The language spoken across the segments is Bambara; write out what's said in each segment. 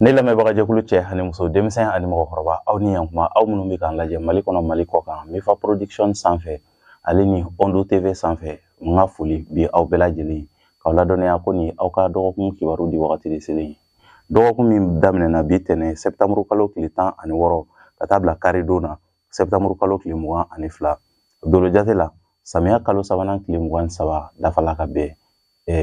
ne lamɛnbaga jɛkulu cɛ ani muso denmisɛn ani mɔgɔkɔrɔba aw ni yankuma aw minnu bɛ k'an lajɛ mali kɔnɔ mali kɔkan mifa production sanfɛ ale ni ondo tv sanfɛ n ka foli bi aw bɛɛ lajɛlen k'aw ladɔnniya ko nin aw ka dɔgɔkun kibaru di wagati de selen ye dɔgɔkun min daminɛna bi tɛnɛ sɛptamuru kalo tile tan ani wɔɔrɔ ka taa bila karidon na sɛptamuru kalo tile mugan ani fila dolo jate la samiya kalo sabanan tile mugan ni saba dafala ka bɛn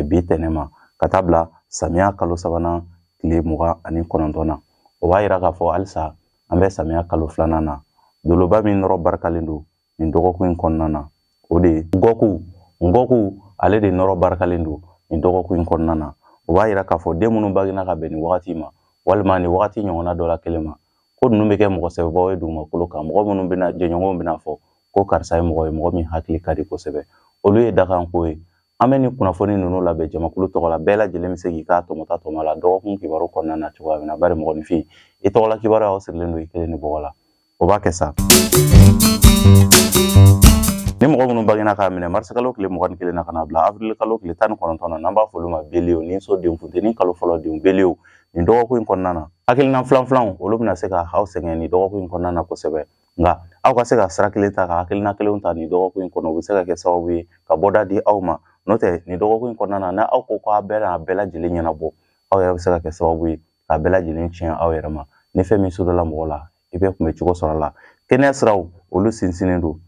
bi tɛnɛ ma ka taa bila samiya kalo sabanan tile mugan ani kɔnɔntɔn na o b'a yira k'a fɔ halisa an bɛ samiya kalo filanan na doloba min nɔrɔ barikalen don nin dɔgɔkun in kɔnɔna na o de ye ngɔku ngɔku ale de nɔrɔ barikalen don nin dɔgɔkun in kɔnɔna na o b'a yira k'a fɔ den minnu bangena ka bɛn nin wagati ma walima nin wagati ɲɔgɔnna dɔ la kelen ma ko ninnu bɛ kɛ mɔgɔ sɛbɛbaw ye dugumakolo kan mɔgɔ minnu bɛna jɛɲɔgɔnw bɛna fɔ ko karisa ye mɔgɔ ye mɔgɔ min hakili ka di kosɛbɛ olu ye dakanko ye An bɛ nin kunnafoni ninnu labɛn jamakulu tɔgɔ la bɛɛ lajɛlen bɛ se k'i ka tɔmɔta tɔmɔ la dɔgɔkun kibaru kɔnɔna na cogoya min na bari mɔgɔninfin i tɔgɔla kibaru o sirilen don i kelen ni bɔgɔ la o b'a kɛ sa ni mɔgɔ minnu bangena k'a minɛ marisikalo tile mugan ni kelen na ka na bila avril kalo tile tan ni kɔnɔntɔn na n'an b'a fɔ olu ma bélier ni so denw funteni kalo fɔlɔ denw bélier nin dɔgɔkun in kɔnɔna na hakilina filanfilanw olu bɛna se ka aw sɛgɛn nin dɔgɔkun in kɔnɔna na kosɛbɛ nka aw ka se ka sira kelen ta ka hakilina kelenw ta nin dɔgɔkun in kɔnɔ o bɛ se ka kɛ sababu ye ka bɔda di aw ma n'o tɛ nin dɔgɔkun in kɔnɔna na n'aw ko k'a bɛɛ n'a bɛɛ lajɛlen ɲɛnabɔ aw yɛrɛ bɛ se ka kɛ sababu ye k'a bɛɛ lajɛlen tiɲɛ aw yɛrɛ ma ni fɛn min sodala mɔgɔ la i bɛ kunbɛn cogo sɔrɔ a la kɛnɛya siraw olu sinsinnen don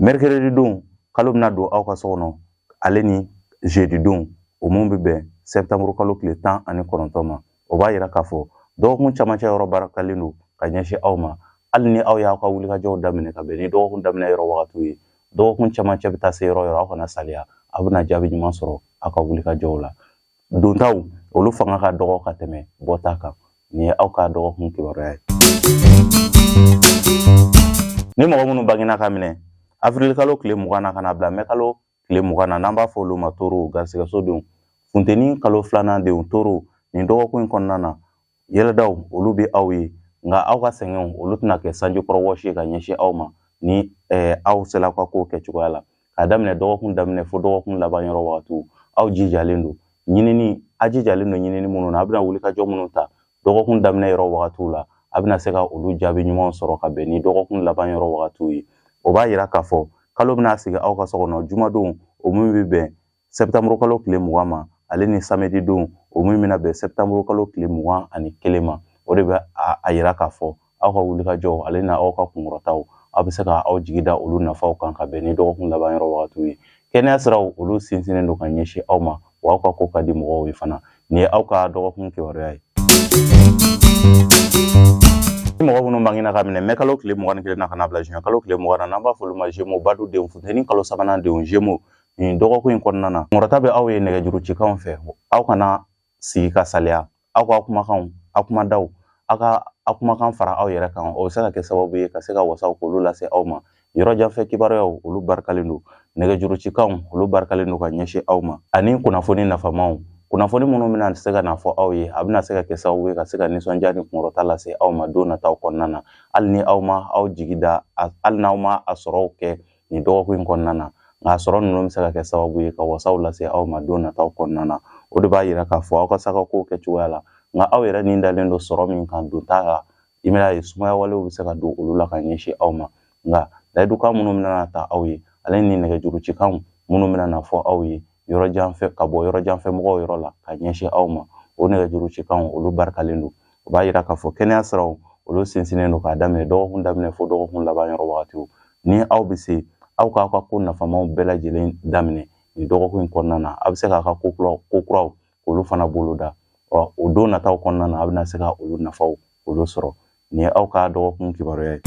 mɛrikɛrɛdi don kalo bɛna don aw ka so kɔnɔ ale ni zedi don o min bɛ bɛn sɛbɛtanburu kalo tile tan ani kɔnɔntɔn ma o b'a yira k'a fɔ dɔgɔkun camancɛ yɔrɔ barikalen don ka ɲɛsin aw ma hali ni aw y'aw ka wulikajɔw daminɛ ka bɛn ni dɔgɔkun daminɛ yɔrɔ wagatiw ye dɔgɔkun camancɛ bɛ taa se yɔrɔ yɔrɔ aw kana salaya aw bɛna jaabi ɲuman sɔrɔ aw ka wulikajɔw la dontaw olu fanga ka dɔgɔ ka tɛmɛ bɔta kan nin ye aw ka dɔgɔkun kibaruya ye ni mɔgɔ minnu bangena k'a minɛ afirilikalo tile mugan na ka na bila mɛkalo tile mugan na n'an b'a fɔ olu ma toro garisigɛso denw funteni kalo filanan denw toro nin dɔgɔkun in kɔnɔna na yɛlɛdaw olu bɛ aw ye nka aw ka sɛgɛnw olu tɛna kɛ sanjikɔrɔ wɔsi ye ka ɲɛsin aw ma ni eh, aw sela aw ka kow kɛcogoya la k'a daminɛ dɔgɔkun daminɛ fo dɔgɔkun laban yɔrɔ wagatiw aw jijalen don ɲinini a jijalen don ɲinini minnu na a bɛna wulikajɔ minnu ta dɔgɔkun daminɛ yɔrɔ wagatiw la a bɛna se ka olu jaabi ɲumanw sɔrɔ ka bɛn ni dɔgɔkun laban yɔrɔ wagatiw ye o b'a yira k'a fɔ kalo bɛna sigi aw ka so kɔnɔ jumadon o min bɛ bɛn sɛbɛtanmuru kalo tile mugan ma ale ni samedi don o min bɛna bɛn sɛbɛtanmuru kalo tile mugan ani kelen ma o de bɛ a yira k'a fɔ aw ka wulikajɔ ale na aw ka kunkɔrɔtaw aw bɛ se ka aw jigi da olu nafaw kan ka bɛn ni dɔgɔkun laban yɔrɔ wagatiw ye kɛnɛya siraw olu sinsinnen don ka ɲɛsin aw ma wa aw ka ko ka di mɔgɔw ye fana nin ye aw ka dɔgɔkun kibaruya ye ni mɔgɔ minnu bangina ka minɛ mɛkalo tile mugan ni kelen na ka na bila zuwɛn kalo tile mugan na n'an b'a fɔ olu ma zemo badu denw funteni kalo sabanan denw zemo nin dɔgɔkun in kɔnɔna na kunkɔrɔta bɛ aw ye nɛgɛjuru cikanw fɛ aw kana sigi ka saliya aw ka kumakanw aw kumadaw aw ka aw kumakan fara aw yɛrɛ kan o bɛ se ka kɛ sababu ye ka se ka wasaw k'olu lase aw ma yɔrɔ janfɛ kibaruyaw olu barikalen don nɛgɛjurucikanw olu barikalen don ka ɲɛsin aw ma ani kunnafoni nafamaw kunnafoni minnu bɛna se ka na fɔ aw ye a bɛna se ka kɛ sababu ye ka se ka nisɔndiya ni kunkɔrɔta lase aw ma don nataw kɔnɔna na hali ni aw ma aw jigi da hali n'aw ma a sɔrɔw kɛ nin dɔgɔkun in kɔnɔna na nka a sɔrɔ ninnu bɛ se ka kɛ sababu ye ka wasaw lase aw ma don nataw kɔnɔna na o de b'a yira k'a fɔ aw ka s'aw ka kow kɛcogoya la nka aw yɛrɛ ni dalen don sɔrɔ min kan don t'a la i bɛna ye sumaya walew bɛ se ka don olu la ka ɲɛsin aw ma nka layidukan minnu bɛna ta aw ye ale ni nɛgɛjurucikanw minnu bɛna na fɔ aw ye yɔrɔ janfɛ ka bɔ yɔrɔ janfɛ mɔgɔw yɔrɔ la ka ɲɛsin aw ma o nɛgɛjuru cikanw olu barikalen don o b'a yira k'a fɔ kɛnɛya siraw olu sinsinnen don k'a daminɛ dɔgɔkun daminɛ fo dɔgɔkun laban yɔrɔ wagatiw ni aw bɛ se aw k'aw ka ko nafamaw bɛɛ lajɛlen daminɛ nin dɔgɔkun in kɔnɔna na a bɛ se k'a ka ko kuraw ko kuraw olu fana boloda ɔ o don nataw kɔnɔna na a bɛna se ka olu nafaw olu sɔrɔ nin ye aw ka dɔgɔkun kibaruya ye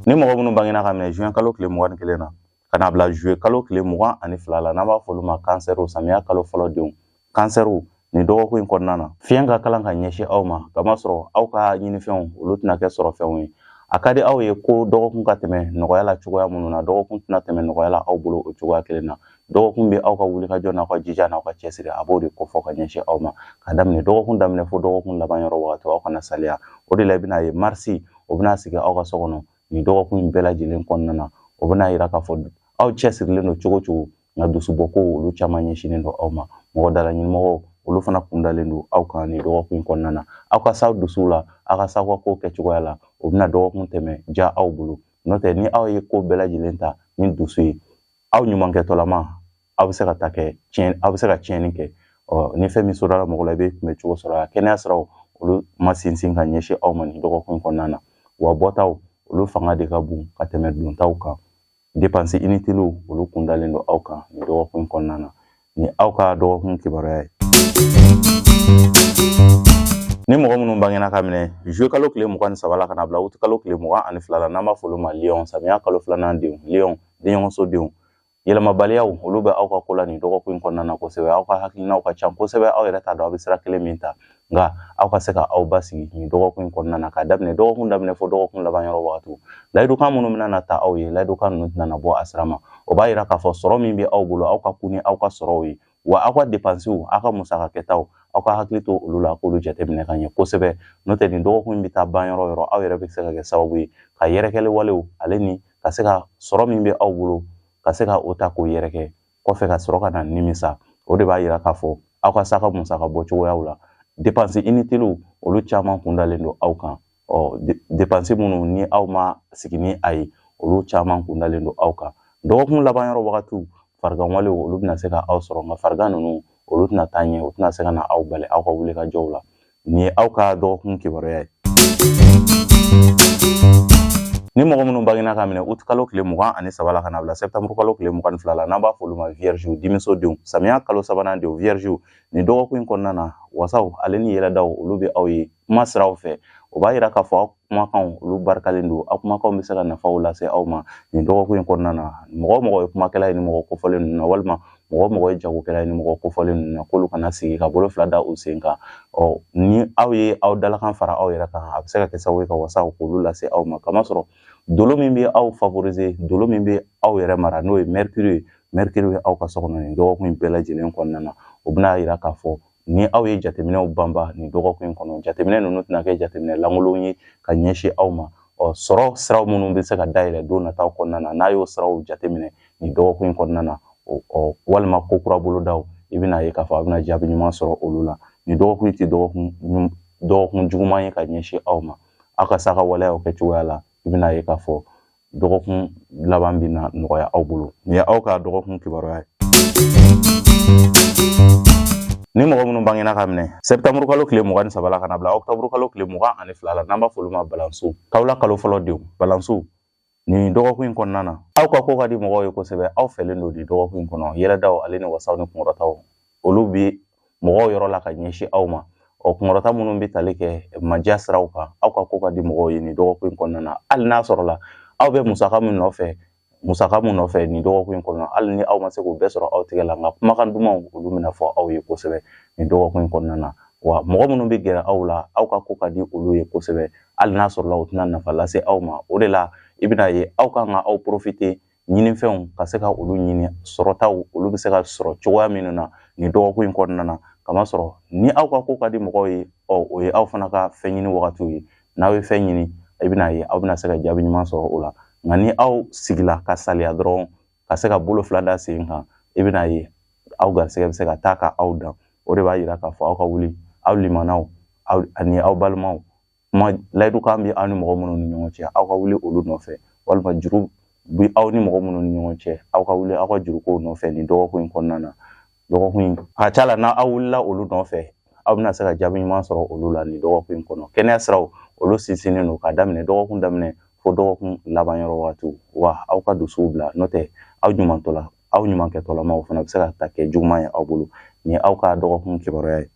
ni mɔgɔ minnu bangena ka minɛ juin kalo tile mugan ni kelen na ka na bila zuluye kalo tile mugan ani fila la n'an b'a fɔ olu ma kansɛriw samiya kalo fɔlɔ denw kansɛriw nin dɔgɔkun in kɔnɔna na fiɲɛ ka kalan ka ɲɛsin aw ma k'a masɔrɔ aw ka ɲinifɛnw olu tɛna kɛ sɔrɔfɛnw ye a ka di aw ye ko dɔgɔkun ka tɛmɛ nɔgɔya la cogoya minnu na dɔgɔkun tɛna tɛmɛ nɔgɔya la aw bolo o cogoya kelen na dɔgɔkun bɛ aw ka wulikajɔ n'aw ka jija n'aw ka cɛsiri a b'o de kofɔ ka ɲɛsin aw ma ka daminɛ dɔgɔkun daminɛ fo dɔgɔkun laban yɔrɔ wagati aw kana saliya o de la i bɛna ye marisi o bɛna sigi aw ka so kɔnɔ nin dɔgɔkun in bɛɛ lajɛlen kɔnɔna na o bɛna yira k'a fɔ aw cɛsirilen don cogo cogo nka dusubɔkow olu caman ɲɛsinnen don aw ma mɔgɔ dalaɲini mɔgɔw olu fana kundalen don aw kan nin dɔgɔkun in kɔnɔna na aw ka s'aw dusuw la aw ka s'aw ka kow kɛcogoya la o bɛna dɔgɔkun tɛmɛ ja aw bolo n'o tɛ ni aw ye ko bɛɛ lajɛlen ta ni dusu ye aw ɲumankɛtɔlama aw bɛ se ka ta kɛ tiɲɛ aw bɛ se ka tiɲɛni kɛ ɔ ni fɛn min sɔrɔla mɔgɔ la i bɛ kunbɛn cogo sɔrɔ a kɛnɛya siraw olu ma sinsin ka ɲɛsin aw ma nin dɔgɔkun kɔnɔna na wa bɔtaw olu fanga de ka bon ka tɛmɛ dontaw kan depansi initiliw olu kundalen don aw kan nin dɔgɔkun kɔnɔna na nin ye aw ka dɔgɔkun kibaruya ye ni mɔgɔ minnu bangena ka minɛ zuluye kalo tile mugan ni saba la ka na bila wuti kalo tile mugan ani fila la n'an b'a fɔ olu ma liyɔn samiya kalo filanan denw liyɔn denɲɔgɔnso denw yɛlɛmabaliyaw olu bɛ aw ka ko la nin dɔgɔkun in kɔnɔna na kosɛbɛ aw ka hakilinaw ka ca kosɛbɛ aw yɛrɛ t'a dɔn aw bɛ sira kelen min ta nka aw ka se ka aw basigi nin dɔgɔkun in kɔnɔna na k'a daminɛ dɔgɔkun daminɛ fɔ dɔgɔkun laban yɔrɔ wagatiw layidukan minnu bɛna na ta aw ye layidukan ninnu tɛna na bɔ a sira ma o b'a yira k'a fɔ sɔrɔ min bɛ aw bolo aw ka kun ni aw ka sɔrɔw ye wa aw ka depansiw aw ka musaka kɛtaw aw ka hakili to olu la k'olu jateminɛ ka ɲɛ kosɛbɛ n'o tɛ nin dɔgɔkun bɛ taa ban yɔrɔ yɔrɔ aw yɛrɛ bɛ se ka kɛ sababu ye ka yɛrɛkɛli walew ale ni ka se ka sɔrɔ min bɛ aw bolo ka se ka o ta k'o yɛrɛkɛ kɔfɛ ka sɔrɔ ka na nimisa o de b'a yira k'a fɔ aw ka saka musaka bɔ cogoyaw la depansi initiliw olu caman kun dalen don aw kan ɔ depansi minnu ni aw ma sigi ni a ye olu caman kun dalen don aw kan dɔgɔkun laban yɔrɔ wagatiw farigan walew olu bɛna se ka aw sɔrɔ nka farigan ninnu olu tɛna taa ɲɛ o tɛna se ka na aw bali aw ka wulikajɔw la nin ye aw ka dɔgɔkun kibaruya ye ni mɔgɔ minnu bangena ka minɛ ut kalo tile mugan ani saba la ka na bila sɛptamuru kalo tile mugan ni fila la n'an b'a fɔ olu ma viergew denmuso denw samiya kalo sabanan denw viergew nin dɔgɔkun in kɔnɔna na wasaw ale ni yɛlɛdaw olu bɛ aw ye kuma siraw fɛ o b'a yira k'a fɔ aw kumakanw olu barikalen don aw kumakanw bɛ se ka nafaw lase aw ma nin dɔgɔkun in kɔnɔna na mɔgɔ mɔgɔ ye kumakɛla ye nin mɔgɔ kofɔlen ninnu na walima mɔgɔ mɔgɔ ye jagokɛla ye nin mɔgɔ kofɔlen ninnu na k'olu kana sigi ka bolo fila da u sen kan ɔ ni aw ye aw dalakan fara aw yɛrɛ kan a bɛ se ka kɛ sababu ye ka wasaw k'olu lase aw ma kamasɔrɔ dolo min bɛ aw favoriser dolo min bɛ aw yɛrɛ mara n'o ye mercure ye mercure bɛ aw ka so kɔnɔ nin dɔgɔkun in bɛɛ lajɛlen kɔnɔna na o bɛna yira k'a fɔ ni aw ye jateminɛw banba nin dɔgɔkun in kɔnɔ jateminɛ ninnu tɛna kɛ jateminɛ lankolon ye ka ɲɛsin aw ma ɔ sɔrɔ siraw minnu bɛ se ka dayɛlɛ don nataw kɔnɔna na n'a y'o siraw jateminɛ nin dɔgɔkun in kɔnɔna na ɔ walima ko kura bolodaw i bɛna ye k'a fɔ a bɛna jaabi ɲuman sɔrɔ olu la nin dɔgɔkun tɛ dɔgɔkun juguman ye ka ɲɛsin aw ma aw ka saka waleyaw kɛ cogoya la i bɛna ye k'a fɔ dɔgɔkun laban bɛna nɔgɔya aw bolo nin ye aw ka dɔgɔkun kibaruya ye ni mɔgɔ minnu bangena ka minɛ sɛptamuru kalo tile mugan ni saba la ka na bila ɔktaburu kalo tile mugan ani fila la n'an b'a f'olu ma balanso kawula kalo fɔlɔ denw balanso nin dɔgɔkun in kɔnɔna na aw ka ko ka di mɔgɔw ye kosɛbɛ aw fɛlen don nin dɔgɔkun in kɔnɔ yɛlɛdaw ale ni wasaw ni kunkɔrɔtaw olu bɛ mɔgɔw yɔrɔ la ka ɲɛsin aw ma ɔ kunkɔrɔta minnu bɛ tali kɛ madiya siraw kan aw ka ko ka di mɔgɔw ye nin dɔgɔkun in kɔnɔna na hali n'a sɔrɔla aw bɛ musaka min nɔfɛ musaka min nɔfɛ nin dɔgɔkun in kɔnɔ hali ni aw ma se k'o bɛɛ sɔrɔ aw tɛgɛ la nka kumakan dumanw olu bɛna fɔ aw ye kosɛbɛ nin dɔgɔkun in kɔnɔna na wa mɔgɔ minnu bɛ gɛrɛ aw la aw ka ko ka di olu ye kosɛbɛ hali n'a sɔrɔla u tɛna nafa lase aw ma o de la i bɛna ye aw kan ka aw porofite ɲininfɛnw ka se ka olu ɲini sɔrɔtaw olu bɛ se ka sɔrɔ cogoya minnu na nin dɔgɔkun in kɔnɔna na kamasɔrɔ ni aw ka ko ka di mɔgɔw ye ɔ o ye aw fana ka fɛn ɲini wagatiw ye n'aw ye fɛn ɲini i bɛna ye aw bɛna se ka jaabi ɲuman sɔrɔ o la nka ni aw sigila ka saliya dɔrɔn ka se ka bolo fila da sen kan i bɛna ye aw garisɛgɛ bɛ se ka taa ka aw dan o de b'a yira k'a fɔ aw ka wuli aw limanaw aw ani aw balimaw kuma layidukan bɛ aw ni mɔgɔ minnu ni ɲɔgɔn cɛ aw ka wuli olu nɔfɛ walima juru bɛ aw ni mɔgɔ minnu ni ɲɔgɔn cɛ aw ka wuli aw ka jurukow nɔfɛ nin dɔgɔkun in kɔnɔna na dɔgɔkun in a ca la n'aw wulila olu nɔfɛ aw bɛna se ka jaabi ɲuman sɔrɔ olu la nin dɔgɔkun in kɔnɔ kɛnɛya siraw olu sinsinnen don ka daminɛ dɔgɔkun daminɛ fo dɔgɔkun laban yɔrɔ waatiw wa aw ka dusuw bila n'o tɛ aw ɲumantɔla aw ɲuman kɛtɔlama o fana bɛ se ka ta kɛ juguman ye aw bolo nin ye aw ka dɔgɔkun kibaruya ye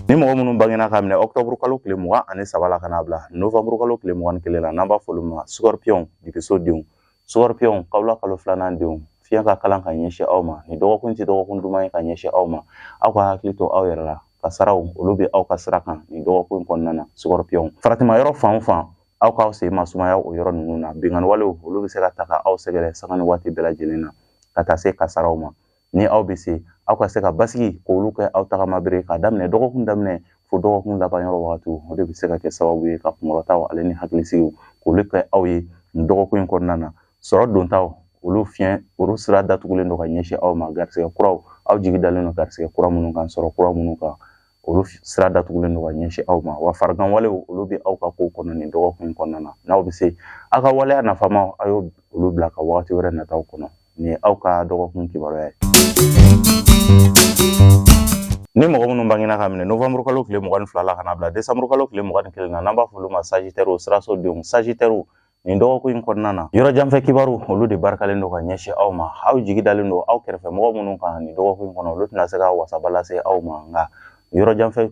ni mɔgɔ minnu bangena ka minɛ ɔktɔburu kalo tile mugan ani saba la ka n'a bila novanburu kalo tile mugan ni kelen la n'an b'a f'olu ma sukɔripiyɔnw dibiso denw sukɔripiyɔnw kawula kalo filanan denw fiɲɛ ka kalan ka ɲɛsin aw ma nin dɔgɔkun tɛ dɔgɔkun duman ye ka ɲɛsin aw ma aw ka hakili to aw yɛrɛ la kasaraw olu bɛ aw ka sira kan nin dɔgɔkun in kɔnɔna na sukɔripiyɔnw faratima yɔrɔ fan o fan aw k'aw sen masumaya o yɔrɔ ninnu na binkanniwalew olu bɛ se ka ta ka aw sɛgɛrɛ sanga ni waati bɛɛ lajɛlen na ka taa se kasaraw ma ni aw bɛ se aw ka se ka basigi k'olu kɛ aw tagama bere ka daminɛ dɔgɔkun daminɛ fo dɔgɔkun laban yɔrɔ wagati o de bɛ se ka kɛ sababu ye ka kunkɔrɔtaw ale ni hakilisigiw k'olu kɛ aw ye nin dɔgɔkun in kɔnɔna na sɔrɔ dontaw olu fiɲɛ olu sira datugulen don ka ɲɛsin aw ma garisɛgɛ kuraw aw jigi dalen don garisɛgɛ kura minnu kan sɔrɔ kura minnu kan olu sira datugulen don ka ɲɛsin aw ma wa farigan walew olu bɛ aw ka kow kɔnɔ nin dɔgɔkun kɔnɔna na n'aw bɛ se aw ka waleya nafamaw a ye olu bila ka wagati wɛrɛ nataw kɔnɔ nin ye aw ka dɔgɔkun kibaruya ye ni mɔgɔ minnu bangena ka minɛ novembre kalo tile mugan ni fila la ka n'a bila décembre kalo tile mugan ni kelen na n'an b'a fɔ olu ma sagitɛriw siraso denw sagitɛriw nin dɔgɔkun in kɔnɔna na yɔrɔ janfɛ kibaru olu de barikalen don ka ɲɛsin aw ma aw jigi dalen don aw kɛrɛfɛ mɔgɔ minnu kan nin dɔgɔkun in kɔnɔ olu tɛna se ka wasaba lase aw ma nka yɔrɔ janfɛ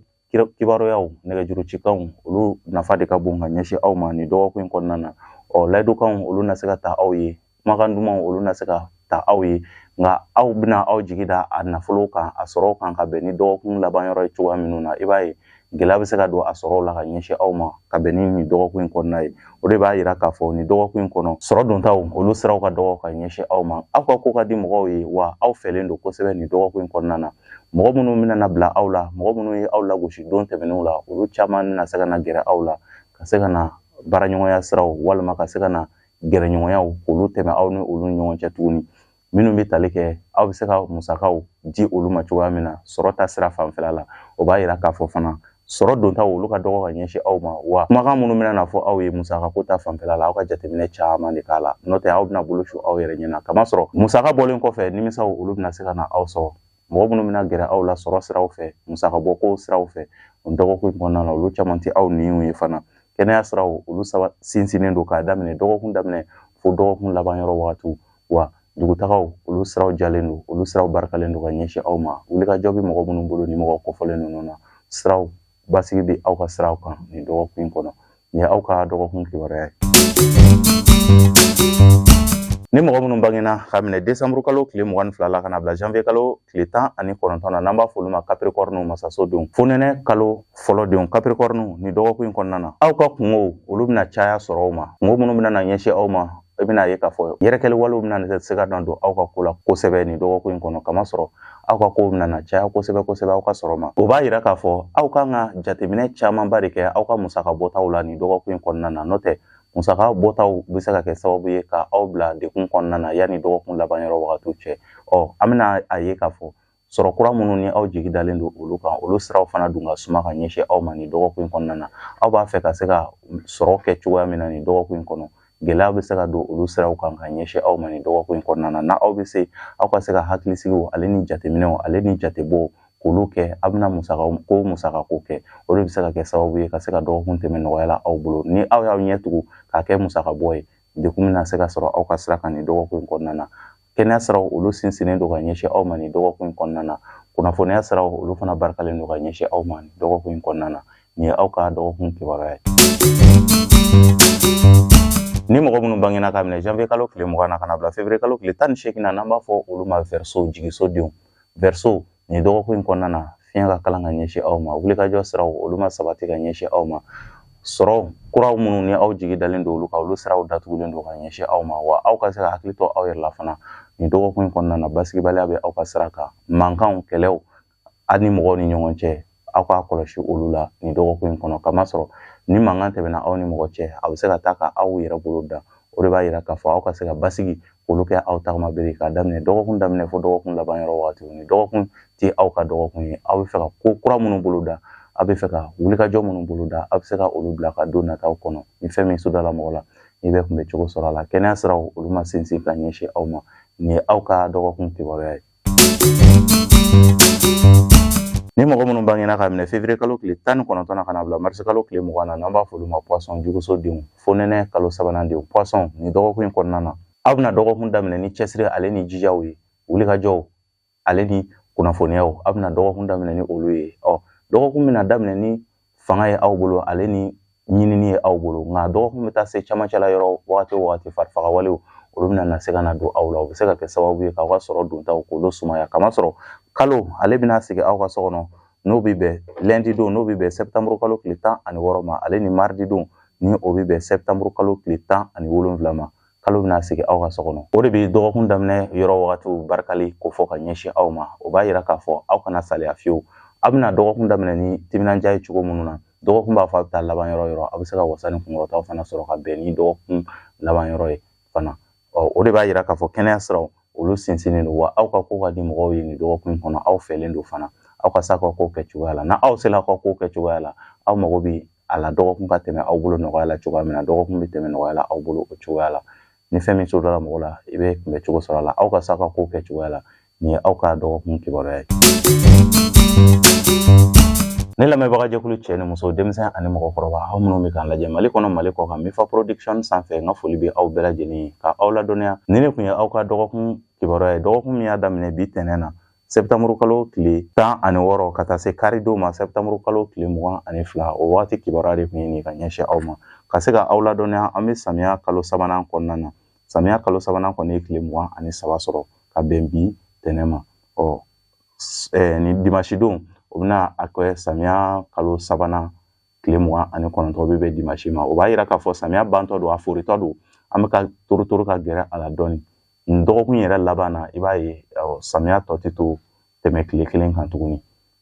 kibaruyaw nɛgɛjuru cikanw olu nafa de ka bon ka ɲɛsin aw ma nin dɔgɔkun in kɔnɔna na ɔ layidukanw olu na se ka ta aw ye kumakan dumanw olu na se ka ta aw ye nka aw bɛna aw jigi da a nafolo kan a sɔrɔ kan ka bɛn ni dɔgɔkun laban yɔrɔ ye cogoya minnu na i b'a ye gɛlɛya bɛ se ka don a sɔrɔw la ka ɲɛsin aw ma ka bɛn ni nin dɔgɔkun in kɔnɔna ye o de b'a yira k'a fɔ nin dɔgɔkun in kɔnɔ sɔrɔ dontaw olu siraw ka dɔgɔ ka ɲɛsin aw ma aw ka ko ka di mɔgɔw ye wa aw fɛlen don kosɛbɛ nin dɔgɔkun in kɔnɔna na mɔgɔ minnu bɛna bila aw la mɔgɔ minnu ye aw lagosi don tɛmɛnenw la olu caman bɛna se ka na gɛrɛ aw la ka se ka na baaraɲɔgɔnya siraw walima ka se ka na gɛrɛɲɔgɔnyaw k'olu tɛmɛ aw ni olu ni ɲɔgɔn cɛ tuguni minnu bɛ tali kɛ aw bɛ se ka musakaw di olu ma cogoya min na sɔrɔ ta sira fanfɛla la o b'a yira k'a fɔ fana sɔrɔ dontaw olu ka dɔgɔ ka ɲɛsin aw ma wa kumakan minnu bɛna na fɔ aw ye musaka ko ta fanfɛla la aw ka jateminɛ caman de k'a la n'o tɛ aw bɛna bolo su aw yɛrɛ ɲɛ na kamasɔrɔ musaka bɔlen kɔfɛ nimisaw olu bɛna se ka na aw sɔrɔ mɔgɔ minnu bɛna gɛrɛ aw la sɔrɔ siraw fɛ musakabɔ ko siraw fɛ o dɔgɔkun kɔnɔna na olu caman tɛ aw ɲinw ye fana kɛnɛya siraw olu saba sinsinnen don k'a daminɛ dɔgɔkun daminɛ fo dɔgɔkun laban yɔrɔ wagatiw wa dugutagaw olu siraw jɛlen don olu siraw barikalen don ka ɲɛsin aw ma wulikajɔ bɛ mɔgɔ minnu bolo ni mɔgɔ kɔfɔlen ninnu na siraw basigi bɛ aw ka siraw kan nin dɔgɔkun in kɔnɔ nin ye aw ka dɔgɔkun kibaruya ye ni mɔgɔ minnu bangena ka minɛ desanburu kalo tile mugan ni fila la ka na bila janvier kalo tile tan ani kɔnɔntɔn na n'an b'a f'olu ma kapirikɔriniw masaso denw fonɛnɛ kalo fɔlɔ denw kapirikɔriniw nin dɔgɔkun in kɔnɔna na aw ka kunkow olu bɛna caya sɔrɔw ma kunko minnu bɛna na ɲɛsin aw ma i bɛna ye k'a fɔ yɛrɛkɛli walew bɛna se ka na don aw ka ko la kosɛbɛ nin dɔgɔkun in kɔnɔ kamasɔrɔ aw ka kow bɛna na caya kosɛbɛ kosɛbɛ aw ka sɔrɔ ma o b'a yira k'a fɔ aw kan ka jateminɛ camanba de kɛ aw ka musaka bɔtaw la nin dɔgɔkun in kɔnɔna na n'o tɛ musaka bɔtaw bɛ se ka kɛ sababu ye ka aw bila dekun kɔnɔna na yanni dɔgɔkun laban yɔrɔ wagatiw cɛ ɔ an bɛna a ye k'a fɔ sɔrɔ kura minnu ni aw jigi dalen don olu kan olu siraw fana dun ka suma ka ɲɛsin aw ma nin dɔgɔkun in kɔnɔna na aw b'a fɛ ka se ka sɔrɔ kɛ cogoya min na nin dɔgɔkun in kɔnɔ gɛlɛya bɛ se ka don olu siraw kan ka ɲɛsin aw ma nin dɔgɔkun in kɔnɔna na n'aw bɛ se aw ka se ka hakilisigi wale ni jateminɛ wale ni jatebɔw k'olu kɛ aw bɛna musaka ko musaka ko kɛ o de bɛ se ka kɛ sababu ye ka se ka dɔgɔkun tɛmɛ nɔgɔya la aw bolo ni aw y'aw ɲɛ tugu k'a kɛ musaka bɔ ye dekun bɛna se ka sɔrɔ aw ka sira kan nin dɔgɔkun in kɔnɔna na kɛnɛya siraw olu sinsinnen don ka ɲɛsin aw ma nin dɔgɔkun in kɔnɔna na kunnafoniya siraw olu fana barikalen don ka ɲɛsin aw ma nin dɔgɔkun in kɔnɔna na nin ye aw ka dɔgɔkun kibaruya ye ni mɔgɔ minnu bangena ka minɛ janvier kalo tile mugan na ka na bila février kalo tile tan ni seegin na n'an b'a fɔ olu ma verseau jigisodenw verseau nin dɔgɔkun in kɔnɔna na fiɲɛ ka kalan ka ɲɛsin aw ma wulikajɔ siraw olu ma sabati ka ɲɛsin aw ma sɔrɔ kuraw minnu ni aw jigi dalen don olu kan olu siraw datugulen don ka ɲɛsin aw ma wa aw ka se ka hakili to aw yɛrɛ la fana nin dɔgɔkun in kɔnɔna na basigibaliya bɛ aw ka sira kan mankanw kɛlɛw aw ni mɔgɔw ni ɲɔgɔn cɛ aw k'a kɔlɔsi olu la nin dɔgɔkun in kɔnɔ kamasɔrɔ ni mankan tɛmɛna aw ni mɔgɔ cɛ a bɛ se ka taa ka aw yɛrɛ bolo dan o de b'a yira k'a fɔ aw ka se ka basigi k'olu kɛ aw tagama bere k'a daminɛ dɔgɔkun daminɛ fo dɔgɔkun laban yɔrɔ waati nin dɔgɔkun tɛ aw ka dɔgɔkun ye aw b'a fɛ ka ko kura minnu bolo da aw b'a fɛ ka wulikajɔ minnu bolo da aw bɛ se ka olu bila ka don nataw kɔnɔ ni fɛn min sodala mɔgɔ la ni bɛ kunbɛn cogo sɔrɔ a la kɛnɛya siraw olu ma sinsin ka ɲɛsin aw ma nin ye aw ka dɔgɔkun kibaruya ye Ni mɔgɔ minnu bangena ka minɛ fevrier kalo tile tan ni kɔnɔntɔn na ka na bila mars kalo tile mugan na n'an b'a f'olu ma poisson juguso denw fonɛnɛ kalo sabanan denw poisson nin dɔgɔkun in kɔnɔna na aw bɛna dɔgɔkun daminɛ ni cɛsiri ale ni jijaw ye wulikajɔw ale ni kunnafoniyaw aw bɛna dɔgɔkun daminɛ ni olu ye ɔ dɔgɔkun bɛna daminɛ ni fanga ye aw bolo ale ni ɲinini ye aw bolo nka dɔgɔkun bɛ taa se camancɛ la yɔrɔ wagati o wagati farifagawalew olu bɛna na se ka na don aw la o bɛ se ka kɛ sababu ye k'aw ka sɔrɔ dontaw k'olu sumaya kamasɔrɔ kalo ale bɛna sigi aw ka so kɔnɔ n'o bɛ bɛn lundi don n'o bɛ bɛn septembre kalo tile tan ani wɔɔrɔ ma ale ni mardi don ni o bɛ bɛn septembre kalo tile tan ani wolonwula ma kalo bɛna sigi aw ka so kɔnɔ o de bɛ dɔgɔkun daminɛ yɔrɔ wagatiw barikali ko fɔ ka ɲɛsin aw ma o b'a yira k'a fɔ aw kana saliya fiyewu aw bɛna dɔgɔkun daminɛ ni timinandiya ye cogo minnu na dɔgɔkun b'a fɔ a bɛ taa laban yɔrɔ yɔrɔ aw bɛ se ka wasa ni kunkɔrɔtaw fana sɔrɔ ka bɛn ni dɔgɔkun laban yɔrɔ ye fana ɔ o de b'a yira k'a fɔ kɛnɛya siraw olu sinsinnen don wa aw ka ko ka di mɔgɔw ye nin dɔgɔkun kɔnɔ aw fɛlen don fana aw ka se aw ka ko kɛ cogoya la n'aw sera aw ka ko kɛ cogoya la aw mago bɛ a la dɔgɔkun ka tɛmɛ aw bolo nɔgɔya la cogoya min na dɔgɔkun bɛ tɛmɛ nɔgɔya la aw bolo o cogoya la ni fɛn min sodala mɔgɔ la i bɛ kunbɛn cogo sɔrɔ a la aw ka se aw ka ko kɛ cogoya la nin ye aw ka dɔgɔkun kibaruya ye ne lamɛnbaga jɛkulu cɛ ni muso denmisɛn ani mɔgɔkɔrɔba aw minnu bɛ k'an lajɛ mali kɔnɔ mali kɔkan mifa production sanfɛ n ka foli bɛ aw bɛɛ lajɛlen ye ka aw ladɔnniya nin de tun ye aw ka dɔgɔkun kibaruya ye dɔgɔkun min y'a daminɛ bi tɛnɛn na septembre kalo tile tan ani wɔɔrɔ ka taa se karidon ma septembre kalo tile mugan ani fila o waati kibaruya de tun ye nin ka ɲɛsin aw ma ka se ka aw ladɔnniya an bɛ samiya kalo sabanan kɔnɔna na samiya kalo sabanan kɔni ye tile mugan ani saba sɔrɔ ka bɛn bi tɛnɛn ma ɔ nin dimasidon o bɛna a kɛ samiya kalo sabanan tile mugan ani kɔnɔntɔn bɛ bɛn dimasi ma o b'a yira k'a fɔ samiya bantɔ don a foritɔ don an bɛ ka torotoro ka gɛrɛ a la dɔɔni nin dɔgɔkun yɛrɛ laban na i b'a ye samiya tɔ tɛ to tɛmɛ tile kelen kan tuguni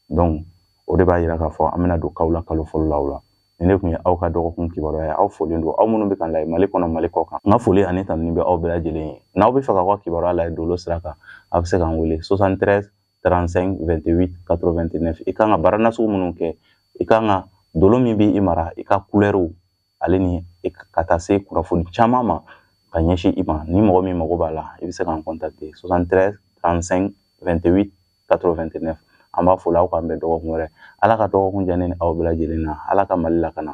donc o de b'a yira k'a fɔ an bɛna don kawula kalo fɔlɔ la o la nin de tun ye aw ka dɔgɔkun kibaruya ye aw folen don aw minnu bɛ k'an lajɛ mali kɔnɔ mali kɔkan n ka foli ani tanuni bɛ aw bɛɛ lajɛlen ye n'aw b'a fɛ ka aw ka kibaruya lajɛ dolo sira kan aw bɛ se k'an wele 73 35 28 89 i kan ka baara nasugu minnu kɛ i kan ka dolo min bɛ i mara i ka kulɛriw ale ni ka taa se kunnafoni caman ma ka ɲɛsin i ma ni mɔgɔ min mago b'a la i bɛ se k'an contacter 73 35 28 89 an b'a fɔ la aw k'an bɛn dɔgɔkun wɛrɛ ala ka dɔgɔkun diya ne ni aw bɛɛ lajɛlen na ala ka mali lakana